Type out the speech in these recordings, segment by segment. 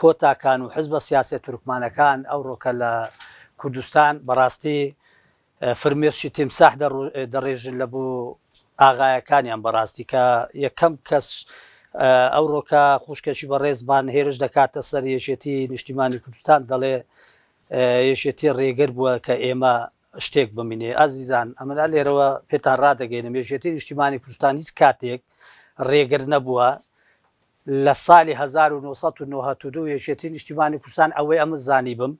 کۆتاکان و حزبە سیاسیە تورکمانەکان ئەوڕۆ کە لە کوردستان بەڕاستی فرمێسکی تیمساح دەڕێژن لە بۆ ئاغایەکانیان بەڕاستی کە یەکەم کەس ئەوڕۆ کە خوشکەکی بەڕێزمان هێرش دەکاتە سەر یەکێتی نیشتیمانی کوردستان دەڵێ یەکێتی ڕێگر بووە کە ئێمە شتێک بمینێ ئازیزان ئەمەلا لێرەوە پێتان ڕدەگەینە مێژێتی نیشتیمانی کوردستان هیچ کاتێک ڕێگر نەبووە لە سالی هەزار و نۆ سەد و نەوەت و دوو یەکێتی نیشتیمانی کوردستان ئەوەی ئەمن زانیبم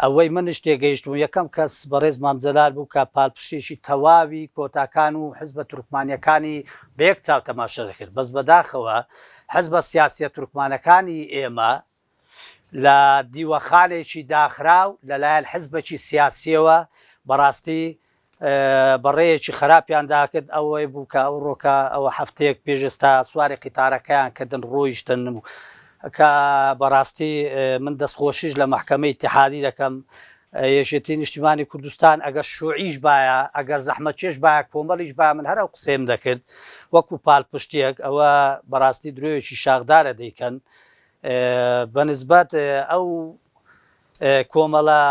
ئەوەی منش تێگەیشتبووم یەکەم کەس بەڕێز مام جەلال بوو کە پالپشتێکی تەواوی کۆتاکان و حزبە تورکمانیەکانی بە یەک چاو تەماشە دەکرد بەس بەداخەوە حزبە سیاسیە تورکمانەکانی ئێمە لە دیوەخانێکی داخراو لەلایەن حزبەکی سیاسیەوە بەڕاستی بەڕێیەکی خراپیان داکرد ئەوەی بوو کە ئەو ڕۆکە ئەوە هەفتەیەک پێش ئێستا سواری قیتارەکەیان کردن ڕۆیشتن و کە بەڕاستی من دەستخۆشیش لە محکەمە ئیتحادی دەکەم یەکێتی نیشتیمانی کوردستان ئەگەر شوعیش باە ئەگەر زەحمە چێش باە کۆمەڵیش با من هەر ئەو قسەم دەکرد وەکو پالپشتێک ئەوە بەڕاستی درۆیەکی شاخدارە دەیکەن بە نسبەت ئەو کۆمەڵە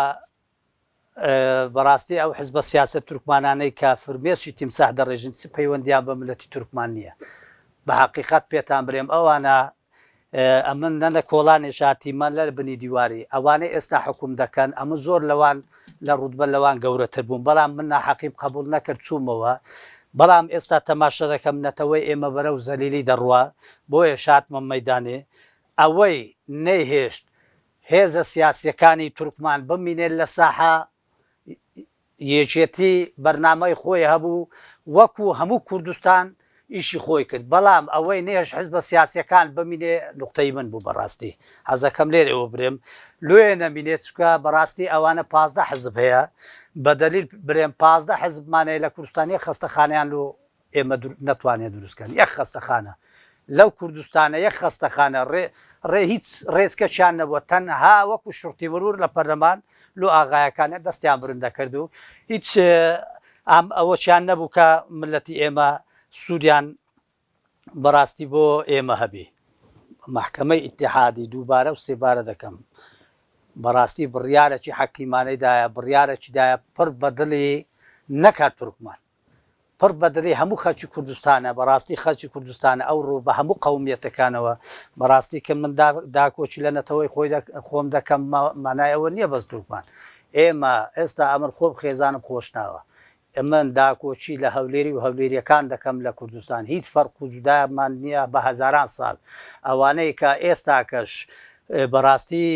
بەڕاستی ئەو حزبە سیاسە تورکمانانەی کە فرمێشی تیمساح دەڕێژن چ پەیوەندیان بە ملەتی تورکمان نییە بە حقیقت پێتان برێم ئەوانە ئەمن نەنە کۆڵانێ شاتیمە لەر بنی دیواری ئەوانەی ئێستا حکوم دەکەن ئەمە زۆر لەوان لە ڕوتبە لەوان گەورەتر بووم بەڵام من ناحەقیم قەبوڵ نەکرد چوومەوە بەڵام ئێستا تەماشە دەکەم نەتەوەی ئێمە بەرەو زەلیلی دەڕوا بۆیەش هاتمە مەیدانێ ئەوەی نەیهێشت هێزە سیاسیەکانی تورکمان بمینێت لە ساحە یەکێتی بەرنامەی خۆی هەبوو وەکو هەموو کوردستان ئیشی خۆی کرد بەڵام ئەوەی نەهێشت حزبە سیاسیەکان بمینێ نوقتەی من بوو بەڕاستی حەزەکەم لێرێ وەبرێم لۆیە نەمینێ چونکە بەڕاستی ئەوانە پازدە حزب هەیە بەدەلیل برێم پازدە حزبمان هەیە لە کوردستان یەک خەستەخانەیان لۆ ئێمە نەتوانیان دروست کەن یەک خەستەخانە لەو کوردستانە یەک خەستەخانە ڕێ ڕێ هیچ ڕێزکەچیان نەبووە تەنها وەکو شوڕتی مرور لە پەرلەمان لۆ ئاغایەکانیان دەستیان برندە کرد و هیچ ئام ئەوەچیان نەبوو کە ملەتی ئێمە سوودیان بەڕاستی بۆ ئێمە هەبی. مەحکەمەی ئیتیحادی دووبارە و سێبارە دەکەم بەڕاستی بڕیارەکی حەکیمانەی دایە، بڕیارەکی دایە پڕ بە دڵی نەک هەر تورکمان، پڕ بە دڵی هەموو خەڵکی کوردستانە بەڕاستی خەڵکی کوردستانە ئەو ڕوو بە هەموو قەومیەتەکانەوە بەڕاستی کە من داکۆکی لە نەتەوەی خۆی خۆم دەکەم مانای ئەوە نییە بەس تورکمان ئێمە ئێستا ئەمن خۆم خێزانم خۆشناوە ئەمن داکۆکی لە هەولێری و هەولێریەکان دەکەم لە کوردستان هیچ فەرق و جودامان نییە بە هەزاران ساڵ ئەوانەی کە ئێستاکەش بەڕاستی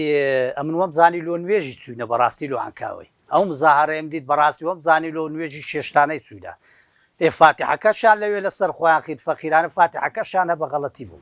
ئەمن وەم زانی لۆ نوێژی چوینە بەڕاستی لۆ عکاوی ئەو مزاهەرەیەم دیت بەڕاستی وەم زانی لۆ نوێژی چێشتانەی چوینە ئێ فاتیحەکەشیان لەوێ لەسەر خۆیان خین فەقیرانە فاتیحەکەشیان هەبە غەڵەتی بوو.